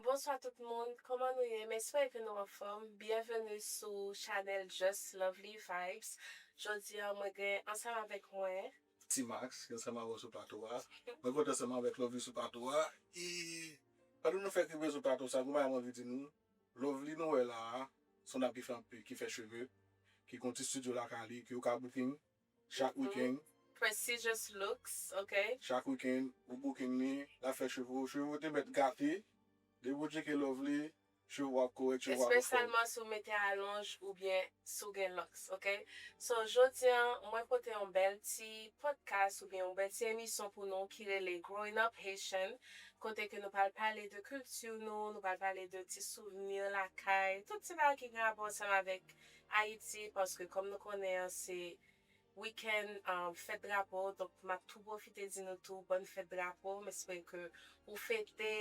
Bonswa tout moun, kòman nou ye? M espere ke nou anfòm. Byenveni sou chanèl Just Lovely Vibes. Jodi a mwen gen ansanm avèk mwen. T-Max ki ansanm avè w sou plato a. Mwen kontan ansanm avèk Lovely sou plato a. E pandan nou fè rive sou plato sa, gen yon bagay mwen vle di nou. Lovely nou wè la a, son dam ki fè anpe, ki fè cheve, ki gen yon ti studio lakay li, ke ou ka booking chak weekend. Prestigious Looks, ok. Chak weekend, ou booking li, lap fè cheve ou, cheve ou te mèt gate, depi ou tcheke Lovely, cheve ou ap korèk, cheve ou ap anfòm. Espesyalman si ou mete alonj oubyen si w gen lux ok so jodia mwen pote yon bèl ti podcast oubyen yon bèl ti emisyon pou nou ki rele growing up Haitian kote ke nou pral pale de kilti nou nou pral pale de ti souvni lakay tout ti bagay ki gen rapò ansanm avèk Ayiti paske kòm nou konnen an se weekend fèt drapo donk map tou pwofite di nou tou bòn fèt drapo m espere ke ou fete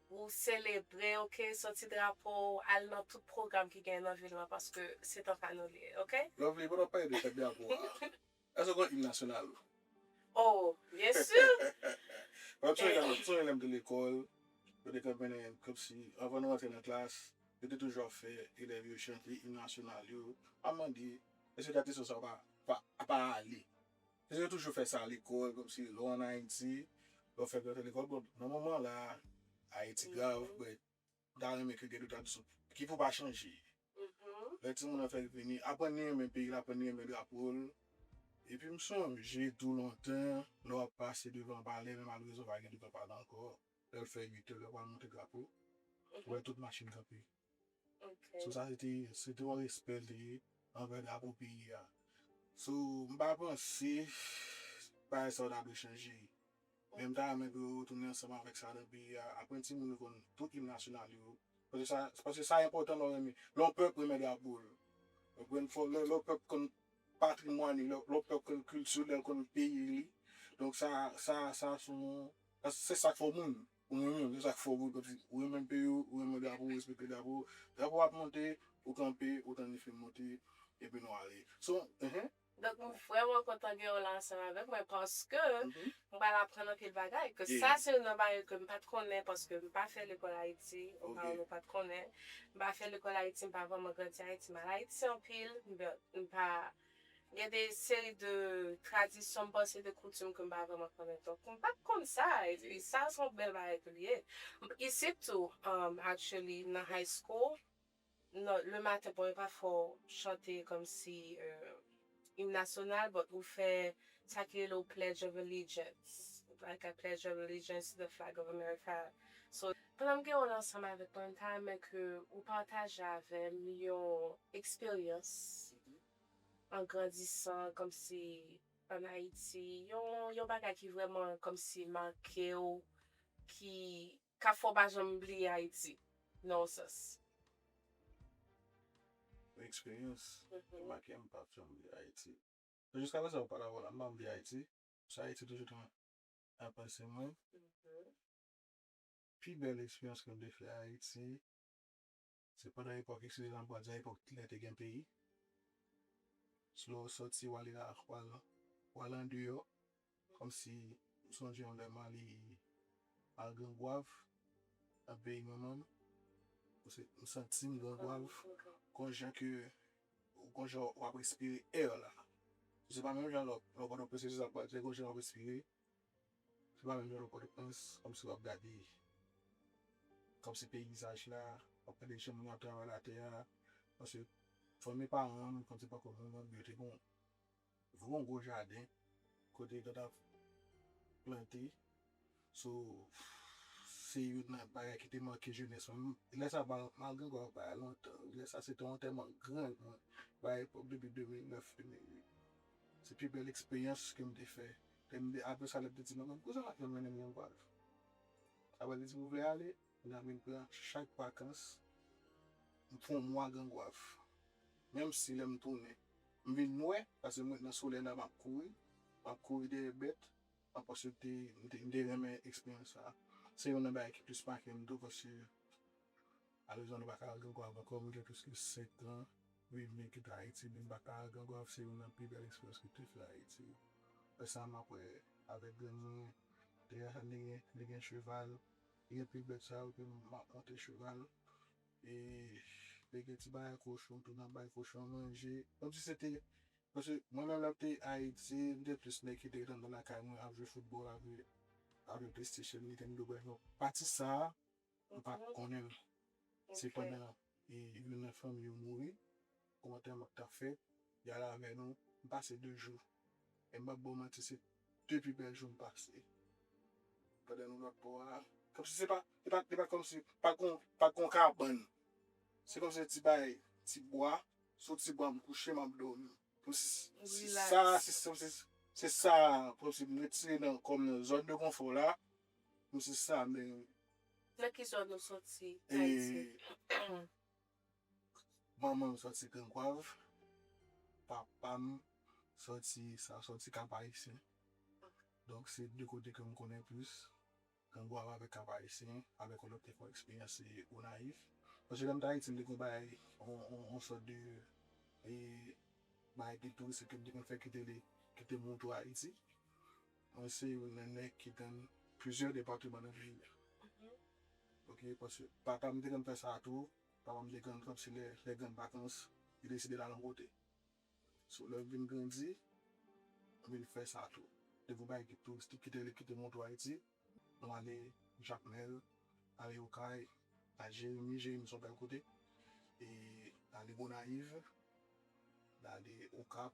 Ou selebre ok soti drapo w al nan tout program ki gen nan vil lan paske se tan pa nou li ye ok. Lovely pa tap pale de fèt drapo a Eske w konnen im nasyonal ou? Oh byen su! Map sonje dam map sonje lèm te lekòl yo te konn mennen kòmsi avan nou rantre nan klas yo te toujou ap fè elèv yo chante im nasyonal yo map mande eske tradisyon sa pa ale Nèg yo toujou fè sa lekòl kòmsi lè w an Ayiti lè w fè grèv lekòl bon nan moman la Ayiti grav mwen ta renmen ke gen de ta disons ki pou pa chanje lè timoun an fèk vini aprann li renmen peyi l aprann li renmen drapo l epi m sonje tou lontan lè w ap pase devan palè men malrezan pa gen devan palè ankò lè l fè uitè lè w pral monte drapo ou wè tout machin kanpe So sa se te se twò respè l te gen anvè drapo peyi a. So m pa panse bagay sa yo ta dwe chanje. Men m ta renmen pou yo retounen ansanm avèk sa nan peyi a. Aprann timoun yo konn tout im nasyonal yo. Paske sa paske sa enpòtan lè w renmen lè yon pèp renmen drapo l. Ou konprann fò lè yon pèp konn patrimwàn li, lè yon pèp konn kilti l, lè l konn peyi li. Donk sa sa sa se yon paske se sa k fè w moun. Ou renmen m, se sa k fè w gou tankou m. Ou renmen peyi w, ou renmen drapo, ou respekte drapo. Drapo a ap monte, ou kanpe, ou tann li fin monte, epi nou ale. Son, ehe. Donk m vrèman kontan gen w la ansanm avèk mwen paske m pral aprann anpil bagay. Ke sa se youn nan bagay ke m pa t konnen paske m pa fè lekòl Ayiti, m pa wè m pa t konnen. M pa fè lekòl Ayiti, m pa vrèman grandi Ayiti. M al Ayiti anpil, m pa. Gen de seri de tradisyon m panse de koutim ke m pa vrèman konnen tou. M pat konn sa e pi sa se yon bèl bagay ke li ye. Isit tou actually nan high school nan le maten bon yo pa fè w chante kòm si im nasyonal but ou fè sa ki rele w pledge of allegiance like I pledge of allegiance to the flag of America. So, pandan m gen w la ansanm avèk mwen, m ta renmen ke ou pataje avè m yon eksperyans an grandisan kòmsi an Ayiti, yon yon bagay ki vrèman kòmsi make w, ki ka fè w pa janm bliye Ayiti nan yon sans. Yon eksperyans ki make m pa janm bliye Ayiti. Jiska prezan ou pa ka wè w la, m pa janm bliye Ayiti, paske Ayiti toujou a panse mwen pi bèl eksperyans ke m te fè Ayiti se pandan epòk eksperyans lan m pral di a epòk lè te gen peyi se lè w sòti w ale nan akwa lan w ale andeyò kòmsi m sonje yon lè m ale al Grangwav nan peyi manman m m santi m Grangwav konjan ke Ou gon jan wap respire air la. Se pa menm jan lè w nan pòtoprens se sa se gon jan wap respire. Se pa menm jan nan pòtoprens kòmsi wap gade kòmsi peyizaj la wap gade jan moun yo ap travay latè a paske fanmi paran an kòmsi pako moun an yo te bon. Van yon gwo jaden kote yo tap plante so se youn nan bagay ki te manke jenès mwen lè sa malgre mwen bay lontan wi lè sa se te antèman grann mwen bay epòk depi 2009 2008 se pi bèl eksperyans ke m te fè apresa lè m te di mama kousa map janm mennen m yon golf aprè l te di m ou vle ale Nan vin pran chak vakans m fon mwa gangwav menm si lèm tounen m vin nwè paske m ret nan solèy la map kouri map kouri dèyè bèt map paske m te m te renmen eksperyans sa se youn nan bagay ki plis makem tou paske malezman nou pa ka al gangwav ankò m gen pliske 5 tran viv men kite ayiti men m pa ka al gangwav se youn nan pi bèl eksperyans m te fè ayiti lè sa map wè avèk grann mwen deja li gen li gen cheval. Li gen ti bèt sa yo ke map monte cheval e li gen ti bagay kochon tou nap bay kochon an manje kom si se te paske mwen menm lèm te ayiti m te plis nèg ki te gen andan lakay mwen ap jwe foutbòl ap jwe ap jwe playstation nintendo bref non pati sa mpa konnen l se pandan youn nan fanmi yo mouri. Kòmantè mwen ta fè yal avè nou m pase 2 jou e m pap baw manti se 2 pi bèl jou m pase pandan nou lòt bò a kòmsi se pa e pa e pa kòmsi pat gon pat gon kabann se kòmsi se ti bagay ti bwa sou ti bwa m kouche map dòmi kòmsi se sa se kòmsi se sa kòmsi m retire nan kòm nan zòn de konfò la kòmsi sa men. Nan ki zòn ou soti ayiti. Manman m soti Gran Gwav, papa m soti sa soti Kap Ayisyen. Donk se 2 kote ke m konnen plis, Gran Gwav avèk Kap Ayisyen, avèk yon lòt te fè yon eksperyans se Gonayiv. Paske lè m t Ayiti m te gen bagay yon sòt de bagay gid touristik ke m te konn fè ki te montre Ayiti. Mwen se yon nènè ki tann plizyè depateman nan peyi a ok paske papa m te konn fè sa tou papa m te konn kanpe se lè grann vakans li deside l al yon kote so lè m vin grandi m vin fè sa tou depi yon bagay ki touristik kite li kite montou ayiti nou ale jakmèl ale okay al jeremi jeremi se yon bèl kote e ale gonayiv n ale okap.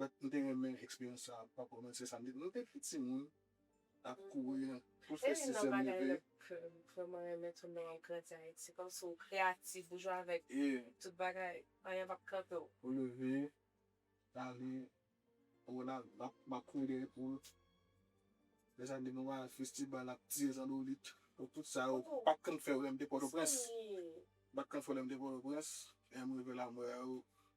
But m te renmen eksperyans sa pa kòmanse samdi nou te pi timoun ap kouri nan tout fè sizyèm leve. Se youn nan bagay m vrèman renmen tou lè wap grandi Ayiti kòmsi w kreyatif ou jwe avèk tout bagay anyen pap kanpe w. Ou leve ale Ronald map kouri dèyè poul lè sa depi nou pa al festibal ap tire zandolit bon tout sa yo m pat konn fè yo lè m te pòtoprens m pat konn fè yo lè m te pòtoprens lè m rive la m wè yo.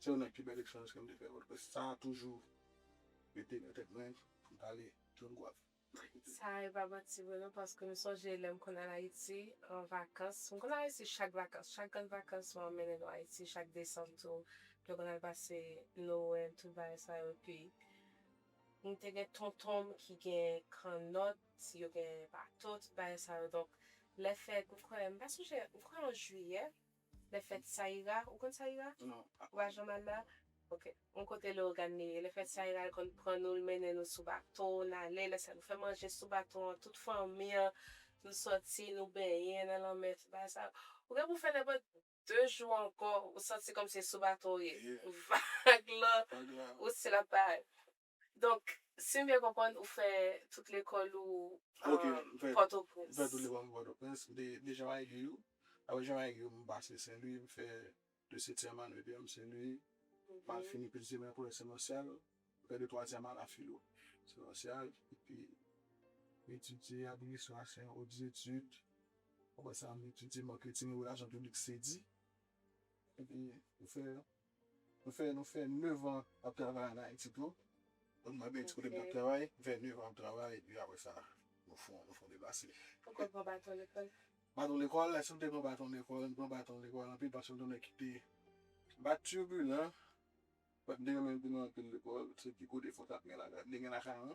Se youn nan pi bèl eksperyans ke m te fè Pòtoprens. Sa toujou rete nan tèt mwen pou m pale John Goave. Sa e pa manti vre non paske m sonje lè m konn al Ayiti an vakans. M konn al Ayiti chak vakans. Chak grann vakans mama m mennen nou Ayiti. Chak desanm tou nou konn al pase Nowèl tout bagay sa yo. Epi m te gen tonton m ki gen kannòt, yo gen bato, tout bagay sa yo. Donk lè fèt m kwè m pa sonje m kwè an jiyè. Lè fèt Sayira, ou konn Sayira? Non, pa konn. Ou pa janm al la? Ok. Yon kote Leogane li ye. Lè fèt Sayira, l konn pran nou, l mennen nou sou bato, n ale. Lè sa, nou fè manje sou bato an, tout fanmi an. Nou soti, nou benyen nan lanmè, tout bagay sa yo. Ou gen pou w fè nenpòt de jou ankò, ou santi kòmsi se sou bato ou ye. Vag lan, ou stil ap bay. Donk sim byen konprann ou fè tout lekòl ou pòtoprens. Mfè tout lekòl mwen pòtoprens de jan mwen egri ou aprè jan mwen egri ou mwen pase senlwi mwen fè de setyèm ane de m senlwi mal fini plizyè mwen konnen senlòsyal mwen fè de twazyèm ane a filo senlòsyal epi mwen etidye administrasyon otdetid aprè sa mwen etidye marketing relasyon piblik sedi epi mwen fè Nou fè nou fè 9 an ap travay an Ayiti tou. Bon mwen bay ti kote mwen tap travay. Nou fè 9 an ap travay epi apre sa nou fon nou fon depase. Ou konn pran baton lekòl? Baton lekòl? Èske m te pran baton lekòl? M pran baton lekòl anpil paske m te nèg ki te pa turbulen. M te renmen m te nan anpil lekòl. Se pi gwo defo m tap gen lakay m. M te gen lakay mwen.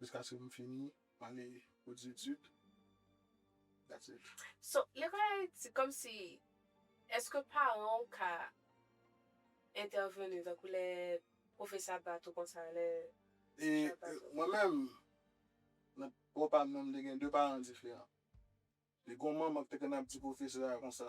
Jiskaske m fini m ale pou dzetid that's it. So lekòl ayiti kòmsi èske paran w ka entèveni tankou lè pwofesè ap bat ou konsa lè pwofesè ap bat ou. Mwen menm nan bò pa m nan m te gen 2 paran diferan. Te gon manman ki te konn ap di pwofesè a konsa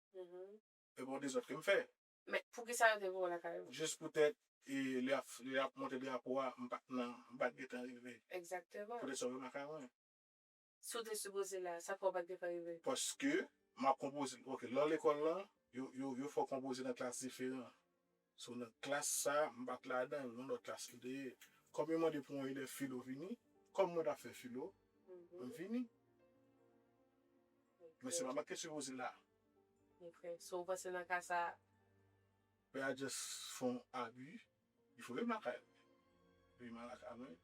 Epi yon dezòd ke m fè. Men, poukisa yo te voye w lakay yo? Jis poutèt lè y ap monte drapo a, m pa t nan, m pa t gentan rive. Egzakteman. Poutèt sa yo voye m lakay mwen. Si w te sipoze la, sa k fè w pa t gentan rive? Paske, m ap konpoze. Ok, nan lekòl lan, yo fè w konpoze nan klas diferan. Si w nan klas sa, m pa t ladan l, yon lòt klas li te ye. Kòm yo mande pou yon elèv filo vini, kòm mwen t ap fè filo, m vini. Men se pa mwen k te sipoze la. Ok. So ou panse nan ka sa. Pè a just fè yon abi, li foure m lakay li. Li fè m lakay mwen.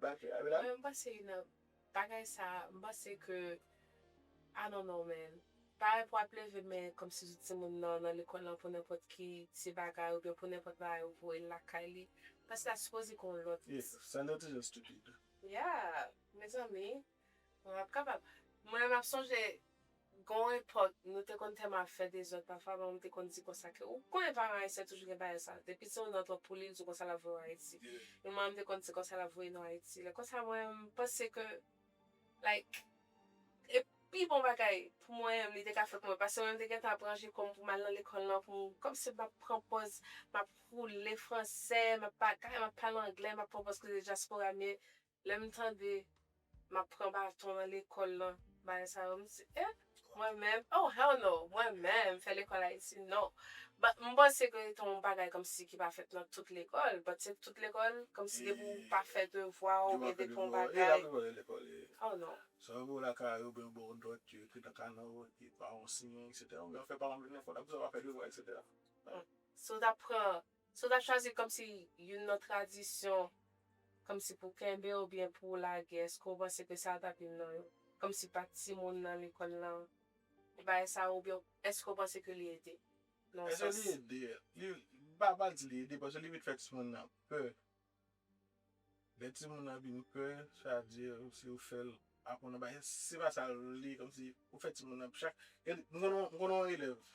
Mwen panse nan bagay sa m panse ke I don't know man parèy pou ap leve men kòmsi tout timoun nan nan lekòl lan pou nenpòt ki ti bagay oubyen pou nenpòt bagay ou voyel lakay li m panse la sipoze gen yon lòt Yeah Sandra toujou stupid Yeah mezanmi. Mwen pap kapab. Mwen map sonje gon epòk nou te konn tèlman ap fè dezòd pafwa manmanm te konn di konsa ke ou konnen paran ayisyen toujou gen bagay sa depi se yon dan twòp pou li l di w konsa lap voye w ayiti men manmanm te konn di konsa lap voye nou ayiti lè konsa mwen m panse ke like e pi bon bagay pou mwen menm li te ka fè pou mwen pase mwen menm te gentan ap ranje kò m pou m al nan lekòl lan pou m kòmsi map pran pòz map woule fransè map bagay map pale anglè map pran pòz koze dyaspora m ye Lèm tande map pran baton nan lekòl nan bagay sa yo mdi eh mwen menm oh hell no mwen menm fè lekòl ayiti non but mpanse ke se yon bagay kòmsi ki pa fèt nan tout lekòl but se tout lekòl kòmsi depi ou pa fè devwa ou byen depi yon bagay oh non. Sa yo voye lakay yo oubyen yo baw dòt yo ekri nan kanè w epi paran w siyen etc oubyen yo fè paran w vin nan fòt akoz ou pa fè devwa etc. Si w ta pran Si w ta chwazi kòmsi youn nan tradisyon kòmsi pou w kenbe oubyen pou w lage èske w panse ke sa ta p youn nan yo? Kòmsi pa timoun nan lekòl nan pou bagay sa yo oubyen èske w panse ke li ede nan yon sans? Èske li ede? Li, m pa pa di li ede paske li vin fè timoun nan pè. Lè timoun nan vin pè sa vle di si ou fè l aprann yon bagay se pa sa l vle kòmsi ou fè timoun nan chak, gen m konnen yon elèv.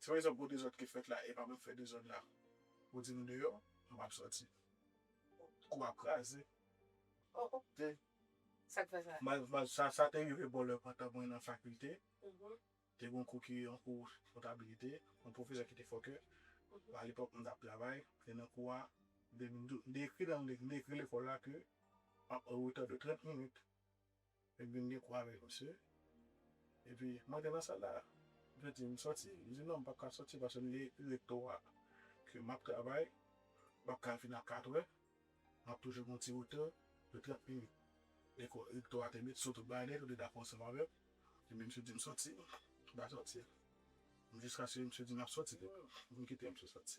Se pa egzanp gwo dezòd ki fèt la epa mwen k fè dezòd la ou di m deyò m pap sòti kou ap kraze oh oh te sak fè sa mal mal sa sa te rive bò lè pandan mwen nan fakilte te gon kou ki yon kou kontabilite yon pwofesè ki te fòkè alepòk m tap travay e nan kou a m te ekri nan m te ekri lekòl la ke m ap anretè de 30 minit. Epi m gen kò avèk misye. Epi m antre nan sal la. Misye di m sòti. M di non m pap ka sòti paske m gen ekri rektò a ke m ap travay. M pap ka vin a katrè. M ap toujou gen yon ti retè de trant minit. Epi rektò a te met sou tout bagay nèt. Yo te dakò ansanm avè m. Epi misye di m sòti. M pa sòti. Jiskaske misye di m ap sòti li menm. Li kite m sou sòti.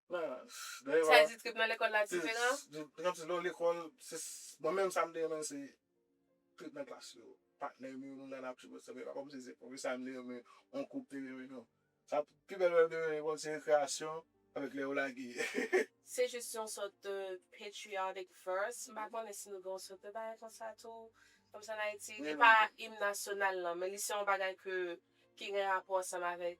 Size di trip nan lekòl la diferan? Trip nan lekòl, mwen menm sa m te renmen se trip nan klas yo. Patnè m yo, nou la n ap chipote sa. Se pa kòm si se pwofesè a m te renmen, on kou m te renmen, non. Sa pi bèl lè m te renmen lekòl se rekreyasyon avèk lè yo lage. Se jis yon sòt patriotic verse. M pa konnen si nou gen yon sòt de bagay konsa tou, kòmsi ann Ayiti. Li pa im nasyonal nan, men li se yon bagay ke ki gen rapò ansanm avèk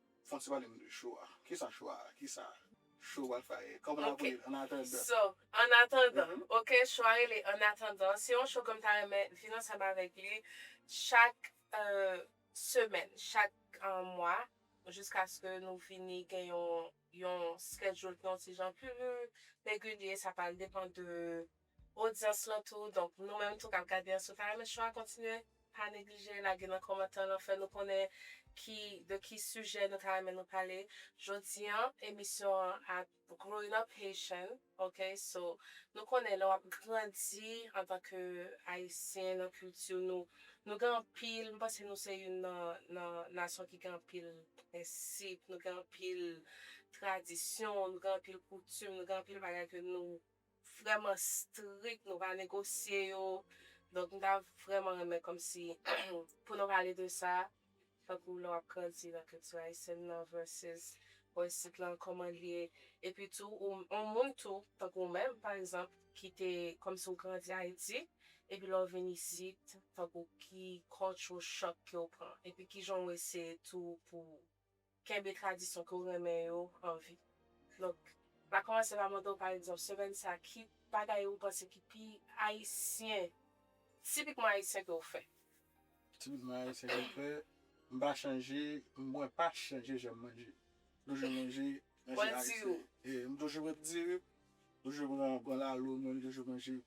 Fon ti pale nou de show a. Kisa show a? Kisa show pral fè? Kòman nap rele l? An atandan. So, an atandan. Ok, show a rele an atandan. Se yon show ke m ta renmen vin ansanm avèk li chak semèn, chak mwa jiskaske nou vini gen yon schedule ki yon ti jan pi regilye. Sa pral depan de odyans lan tou donk nou menm tou kap gade an si ou ta renmen cho a kontinye pa neglije lage nan kòmantè lan fè nou konnen ki de ki sijè nou ta renmen nou pale jodi an emisyon an ap growing up haitian ok so nou konnen lè wap grandi antan ke ayisyen nan kilti nou nou gen anpil m panse nou se youn nan nan nasyon ki gen anpil prensip nou gen anpil tradisyon nou gen anpil koutim nou gen anpil bagay ke nou vrèman strik nou pa negosye yo donk m ta vrèman renmen kòmsi pou nou pale de sa tankou lè w ap grandi nan kilti ayisyèn nan vèsès bò isit lan kòman l ye epi tou yon moun tou tankou w menm pa egzanp ki te kòmsi w grandi ayiti epi lè w vin isit tankou ki cultural shock ke w pran epi kijan w eseye tou pou Kenbe tradisyon ke w renmen yo an vi. Donk, m a kòmanse pa mande w pa egzanp semèn sa a ki bagay ou panse ki pi ayisyen, tipikman ayisyen ke w fè? Tipikman ayisyen ke m fè, m pa chanje, mwen pa chanje jan m manje. M toujou manje, manje ayisyen. Mwen di w. M toujou manje diri, m toujou pran lalo mwen, m toujou manje.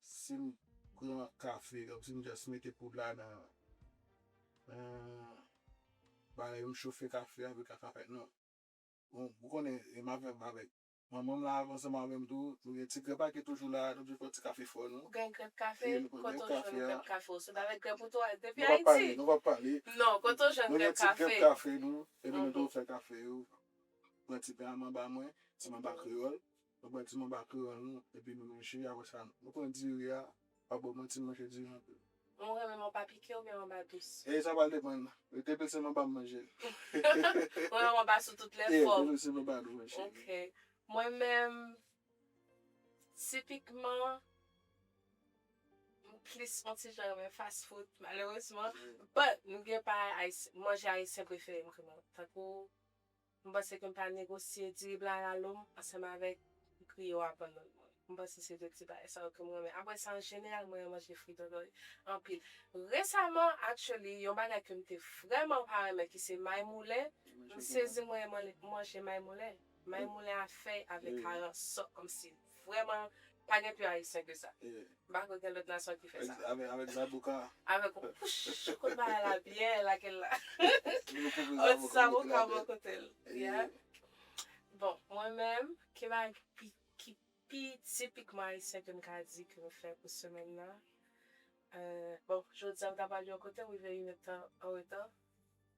Sim pran kafe ok sim just mete poud la nan bagay m chofe kafe a vre ka pa fèt non bon ou konnen e map fè avèk manmanm la avan ansanm avèm tou nou gen ti grèp a ki toujou la nou toujou fè yon ti kafe fò nou. Ou gen grèp kafe kote ou jwenn grèp kafe ou sot avèk grèp ou tou al depi ayiti nou pap pale non kote ou jwenn grèp kafe nou gen ti grèp kafe nou epi nou toujou fè kafe yo pran ti pen a manba mwen ti manba kreyòl Nou pran ti manba kran nou epi nou manje apre sa nou pran diri a pa bò manti m manje diri anpil. Mwen renmen manba pike oubyen manba dous. E sa pral depann depil se manba m manje. Ou renmen manba sou tout lè fòm. Depil se manba dous wi cheri. Ok mwen menm tipikman m plis on ti jan renmen fast food malerezman but m gen pa manje ayisyen preferem tankou. M panse ke m ta negosye diri blan a la lom ansanm avèk griyo a bannann mwen. M panse se 2 ti bagay sa yo ke m renmen. Apre sa an jeneral m renmen manje fri dòdòy anpil. Resaman actually yon bagay ke m te vrèman pa renmen ki se may moulen, m sezi m renmen manje may moulen. May moulen a fèy avèk karan sòk kòmsi. Vrèman, pa gen pi ayisyen ke sa. M pa kwè gen lòt nasyon ki fè sa. Avèk zaboka. Avèk yon pouch kot bagay la byen lage l la. Yon zaboka bò kote l. Bon, mwen menm, ki bagay ki pi tipikman ayisyen ke m ka di ke m fè pou semèn nan? Bon, jodi a m ta pral yon kote, m rive yon èdtan anreta.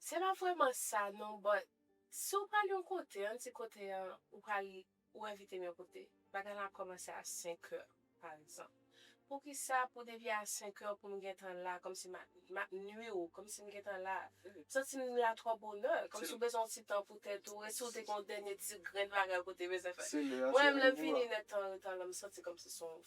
Se pa vrèman sa non but si ou pral yon kote an ti kote an ou pral ou envite m yon kote bagay lan ap kòmanse a 5 heures par exemple poukisa pou depi a 5 heures pou m gentan la kòmsi m ap m ap nwi ou kòmsi m gentan la m santi m la twò bonè kòmsi ou bezwen yon ti tan pou tèt ou e si ou te gen yon dènye ti grenn bagay ou te bezwen fè mwen menm lè m vini nèt tan anreta lan m santi kòmsi se yon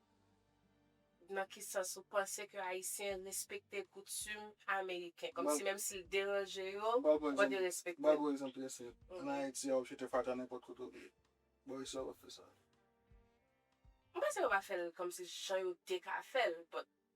Nan ki sans ou panse ke Ayisyen respekte koutim Ameriken? Kòmsi menm si l deranje yo, yo derespekte l? M ba ou yon egzanp trè senp. Ann Ayiti, a ou jete fatra nenpòt kote ou vle. Bò isit la, yo pa fè sa. M panse yo pa fè l kòmsi jan yo te ka fè l.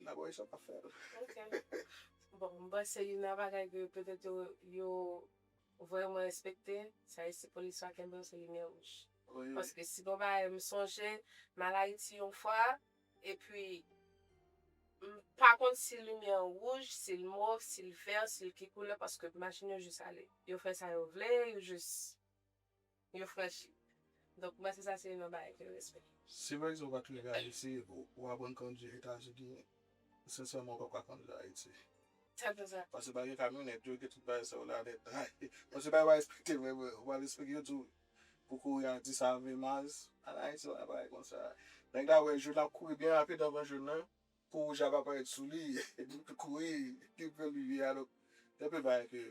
Nan bo Richard pa fel. Ok bon m panse youn nan bagay ke petet yo vreman respekte se ayisyen polis pa kenbe yo se limyè wouj paske si gon bagay m sonje m al ayiti yon fwa epi m pa konn si limyè an wouj sil mov sil vè sil ki koulè paske machin yo jis ale yo fè sa yo vle yo jis Yo franchi. Donk m panse sa se youn nan bagay ki respè. Si pa egzanp w pa tonbe Ayiti, w aprann kondwi Etazini, sensèman w pa pral kondwi Ayiti. Sa vle di sa? Paske pa gen kamyonèt, yo gen tout bagay sa yo la nèt. Bon se bagay w pa espekte vre vre. Ou pral espekte yo di w pou kouri a 10 a 20 miles. An Ayiti pa gen bagay konsa. Nèg la wè jòn ap kouri byen rapid anvan jòn nan. Po wouj la pa parèt sou li kouri li pran limyè a donk gen anpil bagay ke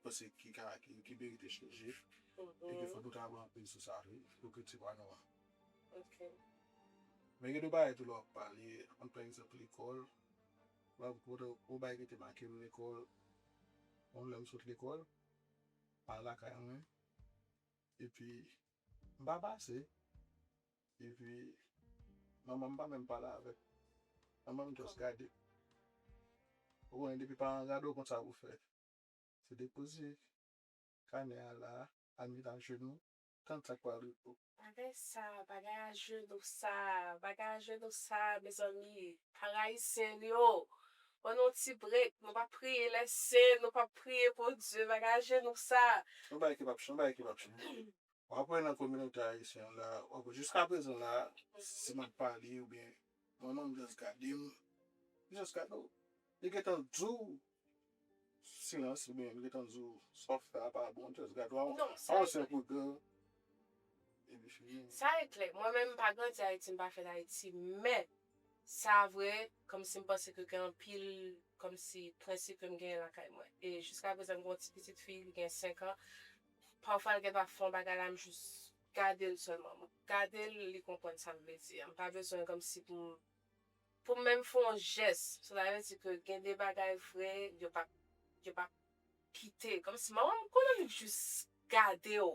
panse ki ka ki merite chanje e ke fòk nou travay anpil sou sa wi pou kilti pa nou an men gen de bagay tou lè w ap pale ann pran egzanp lekòl banm pou kote yon bagay ki te make m lekòl yon lè m sot lekòl m al lakay mwen epi m pa pase Epi manmanm pa menm pale avèk manmanm just gade ou konnen depi paran gade ou konn sa pou fè se depoze kanè a la al met ajenou tann sak pral rive ou. Bagay sa bagay ajenou sa bagay ajenou sa mezanmi par ayisyen li oo ban nou yon ti break nou pa priye lè sen nou pap priye bondye bagay ajenou sa. Yon bagay ki pap yon bagay ki pap chanje. wap wè nan kominote ayisyen an la wap wè jiska prezan la si map pale oubyen yon moun just gadem li just gade w li gentan diw silans oubyen li gentan diw sa wap fè a pa bon li just gade w non sa e klè sa e klè epi fini sa e klè mwen menm mpa grandi ayiti mpa fèt ayiti men sa vre kòmsi mpanse ke gen anpil kòmsi prensip kem genyen lakay mwen e jiska prezan mwen gen yon ti pitit fi li gen 5 an Pafwa l gen ta fon bagay la m jis gade l sèlman m gade l li konprann sa m vle di a m pa bezwen kòmsi pou m pou m menm fon jès sou sa vle di ke gen de bagay vre yo pap yo pap kite kòmsi manman m konnen li jis gade w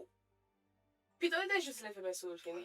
pito li te jis leve men sou l fini.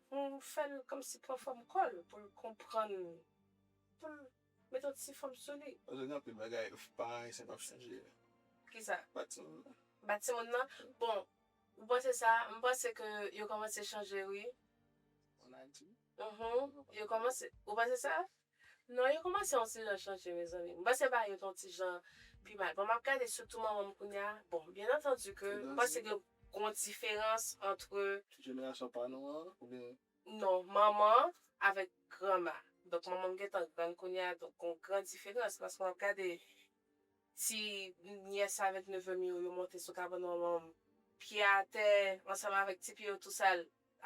Hum fèl kòmsi pran fòm kòl poul konprann poul met yon ti fòm sou li. Pase gen anpil bagay pa ayisyen pap chanje. Kisa? Bat timoun nan. Bat timoun nan? Bon ou panse sa m panse ke yo kòmanse chanje wi. An ayiti? Uhmm yo kòmanse ou panse sa? Non yo komanse yon ti jan chanje mezanmi. M panse bagay yo t yon ti jan pi mal. Bon map gade sitou manmanm kounya, bon byen antandi ke m panse gen yon diferans antre. Jenerasyon pa nou an oubyen. Non manman avèk granma. Donk manmanm gentan grann kounya donk gon gran diferans paske map gade ti nyès avèk nevem yo yo monte sou kabann manmanm pye atè ansanm avèk ti pye yo tou sal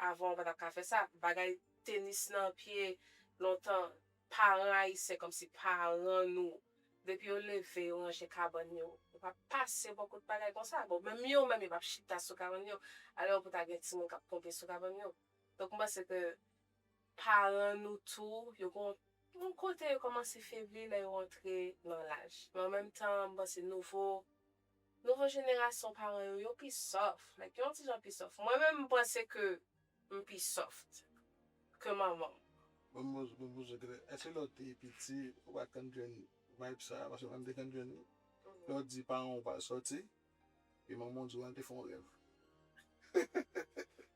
Avan ou pa tap ka fè sa. Bagay tenis nan pye lontan paran ayisyen kòmsi paran nou depi yo leve yo ranje kabann yo yo pa pase bò kot bagay konsa bon menm yo menm yo pap chita sou kabann yo alò pou ta gen timoun kap konte sou kabann yo donk m panse ke paran nou tou yo gon yon kote yo kòmanse febli lè yo antre nan laj men an menm tan m panse nouvo Nouvo jenerasyon paran yo yo pi sòf like yon ti jan pi sòf mwen menm m panse ke m pi soft ke manmanm. Bon mouz bon mouz ok eske lè w te piti ou pat konn jwenn vibe sa paske mwen m te konn jwenn li lè w di paran w ou pa al sòti e manman w di w al te fè yon rèv.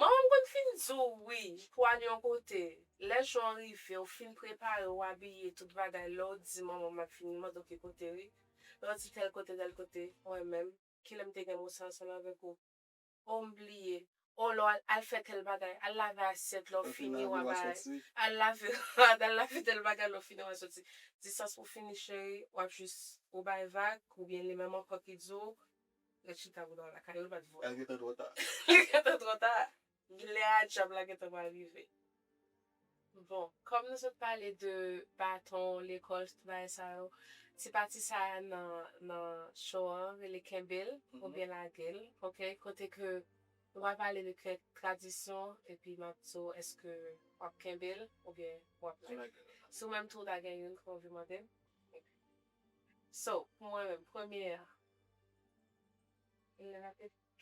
Manman m konn fin di w wi pou w al yon kote, lè jou an rive w fin prepare w abiye tout bagay lè w di manman m ap vini mande w ki kote wi, lè w di tèl kote tèl kote, mwen menm, kilè m te gen mo sa ansanm avèk ou? Oh m bliye, oh lè w al al fè tèl bagay, al lave asyèt lè w fini wa bay, al lave rad, al lave tèl bagay lè w fini wa soti, di sa s pou fini cheri, w ap jis ou bay vag oubyen li menm ankò ki di w Ret chita boudaw lakay ou bat voa. Li gentan tro ta. Li gentan tro ta. Gnlè a djab la gentan pral rive. Bon kòm nou sot pale de baton lekòl tout bagay sa yo ti pati sa nan show an rele kenbel oubyen lagel ok kote ke nou pral pale de kèk tradisyon epi map di w eske wap kenbel oubyen wap lagel si ou menm tou ou ta gen youn ke w anvi mandem ok so pou mwen menm premye an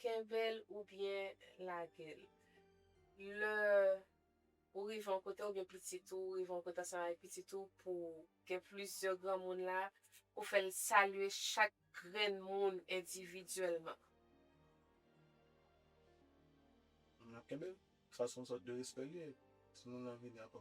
Kenbe l oubyen lage l. Lè ou rive yon kote oubyen pitit ou rive yon kote ansanm avèk pitit ou pou gen plizyè granmoun la, ou fè l salye chak grenn moun endividyèlman. Kenbe l, sa se yon sòt de respè li ye, timoun lan vini ankò.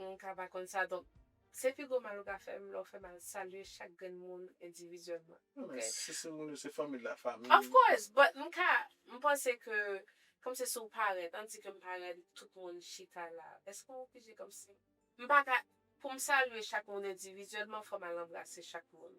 Moun ka pa konn sa donk se pi gwo mal ou ka fè m lè w fè mal salye chak grenn moun endivizyèlman ok. Men si se moun yo se fanmi la fanmi. Of course but m ka m panse ke kòmsi si w parèt an di ke m parèt tout moun chita la èske w oblije kòmsi m pa ka pou m salye chak moun endivizyèlman fò m al anbrase chak moun.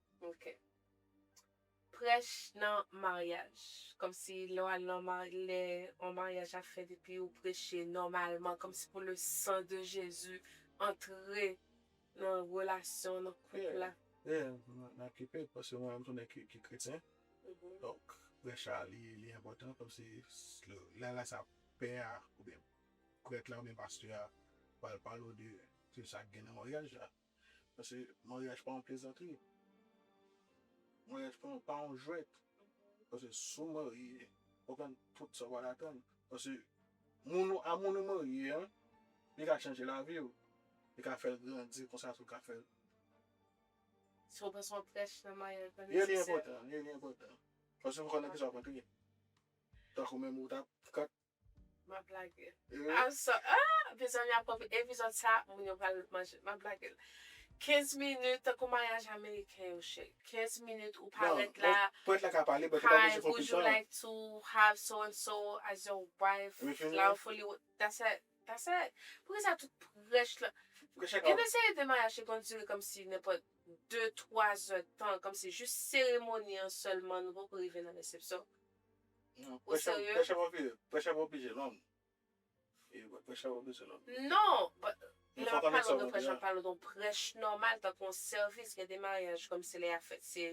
Ok. Prèch nan maryaj. Kòmsi lè w al nan mary lè yon maryaj ap fèt epi ou preche nòmalman kòmsi pou le san de Jezi antre nan relasyon nan koup la. Ye, m ap keep it paske mwen menm tou nèg ki kretyen. Donk prèch la li enpòtan kòmsi lè lè sa pè a oubyen prèt la oubyen pastè a pral pale w de tout sa ki gen nan maryaj la. Paske maryaj pa yon plezantri. Maryaj pa yon jwèt. Paske si w marye, w ap jwenn tout sa w pa t atann. Paske a moun ou marye a, li ka chanje lavi w. Li ka fè l grandi konsa tou, li ka fè l. Si w bezwen prèch nan maryaj la nesesè. Ye li enpòtan, ye li enpòtan. Paske w pa konnen nan kisa w ap antre. Tankou menm ou ta. Map blage. I'm so ah epizòd la pwòp epizòd sa moun yo pral manje map blage. 15 minit tankou maryaj ameriken yo cheri. 15 minit ou parèt la. Non, pwèt la ka pale but li pa oblije pran plis tan. Hi, would you like to have so and so as your wife? Wi fini. Flower for you. That's it. That's it. Poukisa tout prèch la. Prèch la ka. Gen de seri de maryaj ki konn dire kòmsi nenpòt 2, 3 zè tan kòmsi jis seremoni an sèlman nou poko rive nan resepsyon. Ou serye? Pè chèvò pije, pè chèvò pije long. Pè chèvò pije long. Non! Lè wap pale yon prèch wap pale yon prèch nòmal tankou yon sèvis gen de maryaj kòmsi lè ya fèt se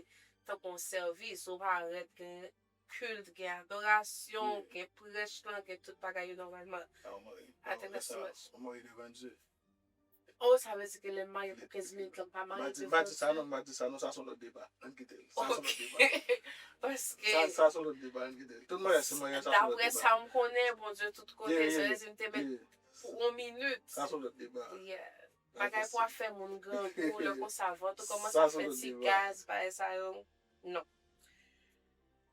tankou yon sèvis ou pa rèt gen kilt gen adorasyon gen prèch lan gen tout bagay yo nòmalman. Atè mèsi mèsi. Ou marye devan Dye? Oh sa vle di ke lè m marye pou 15 minit lan m pa marye tout bon Dieu ok Daprè sa m konnen Bondye tout kote sa vle di m te mèt pou on minit Yeah Bagay pou ap fè moun grangou lè konsa vant ou kòmanse ap fè ti gaz bagay sa yo non.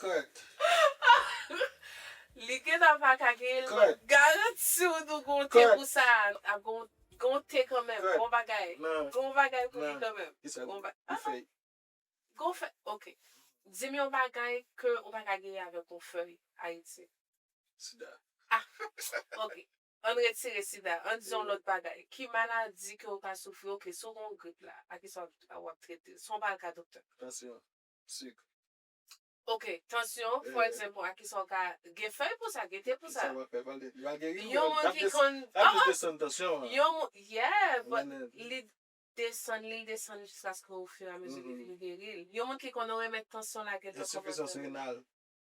Kèt. Li gentan pa ka genyen l map garanti w nou gon te pou sa ap gon te kanmenm gon bagay gon bagay pou li kanmenm gon fèy ok di m yon bagay ke ou pa ka genyen avèk yon fèy ayiti sida ok An n retire sida, an n di yon lòt bagay. Ki maladi ke ou ka soufri, ok, si ou gen yon grip la, a kisa w ap trete l? Si w pa al ka doktè. Tansyon, sik. Ok, tansyon, fò egzanp, a kisa w ka, gen fèy pou sa, gen te pou sa. Ki sa w ap fè, pale, li va geri ou? Yon moun ki konn, ah ah. L ap jis desann tansyon an. Yon moun, yeah, but li desann li, li desann jiskaske ofiramezi li vin geri l. Yon moun ki konn yon remèd tansyon lage l nan kòmantè. Ensifizans renal.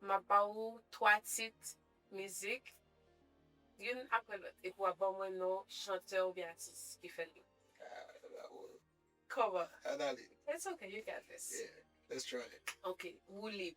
Map ba ou 3 tit mizik youn aprè lòt epi wap ban mwen non chantè oubyen atis ki fè li. Ah la boule. Kòman? An ale. It's okay you got this. Yeah let's try it. Ok woulib.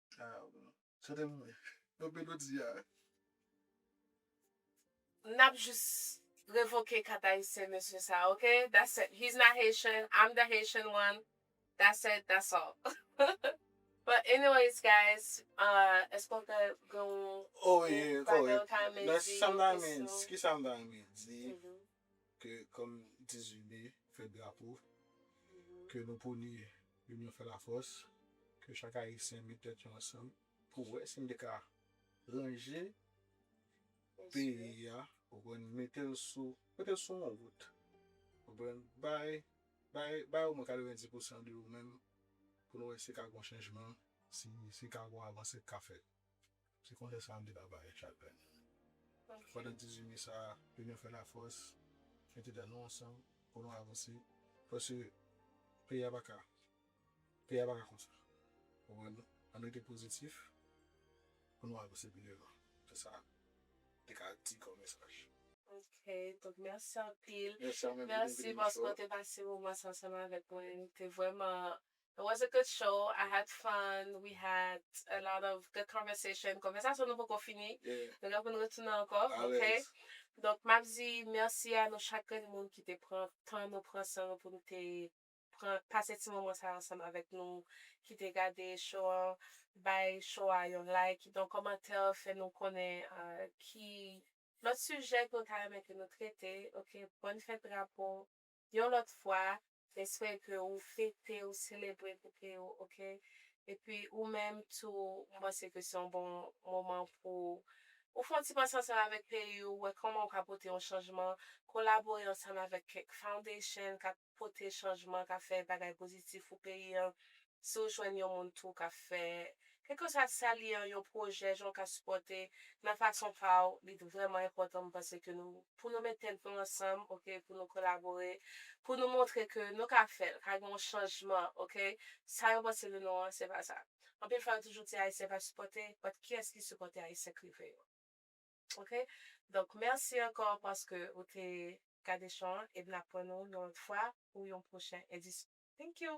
Nap jis revoke kat ayisyen mesye sa ok that's it he's not Haitian I'm the Haitian one that's it that's all but anyways guys eske ou ta gen yon bagay ou ta renmen di yon kesyon. Ke kòm 18 me fèt drapo. Ke nou pwone linyon fè la fòs. Ke chak ayisyen met tèt yo ansanm. Pou wè si n te ka ranje peyi a ou konprann mete l sou mete l sou yon wout ou konprann bay bay bay omwen 90 pousan de ou menm pou nou wè si ka gen yon chanjman si si ka gen yon avansè k ka fèt. Se konsèy sa a m te ka ba yo chak lè. Pandan dizuit me sa a, inyon fè lafòs, mete dan nou ansanm pou nou avanse, paske peyi a pa ka, peyi a pa ka konsa. Ou konprann non? An nou rete pozitif pou nou avanse pi devan. Se sa m te ka di kòm mesaj. Ok, donk mèsi anpil. Mèsi a mwen pou envite m nan show a. Mèsi paske w te pase moman sa ansanm avèk mwen. Te vrèman It was a good show, I had fun, we had a lot of good conversation, konvèsasyon nou poko fini, nou gen pou nou retounen ankò ok, donk map di mèsi a nou chak grenn moun ki te pran tan nou pran san nou pou nou te pran pase ti moman sa ansanm avèk nou, ki te gade show an, bay show a yon like, kite yon kòmantè fè nou konnen ki lòt sijè ke w ta renmen ke nou trete ok, bòn fèt drapo. Yon lòt fwa respè ke ou fete ou selebre poupée yo ok epi ou menm tou m panse ke se yon bon moman pou ou fon ti panse ansanm avèk peyi ou wè kòman ou ka pote yon chanjman kolabore ansanm avèk kèk foundation kap pote chanjman kap fè bagay pozitif pou peyi an si w jwenn yon moun tou k ap fè, kèlkeswa sa l ye an, yon pwojè, jan w ka sipòte nan fason pa w, li vrèman enpòtan m panse ke nou, pou nou met tèt nou ansanm ok, pou nou kolabore, pou nou montre ke nou ka fè l, ka gen yon chanjman ok, sa yo panse de nou an se pa sa. Anpil fwa yo toujou di ayisyen pa sipòte, but kiyès ki sipòte ayisyen k rive yo? Ok, donk mèsi ankò paske ou te gade show an e m ap wè nou yon lòt fwa pou yon pwochen edisyon. Thank you!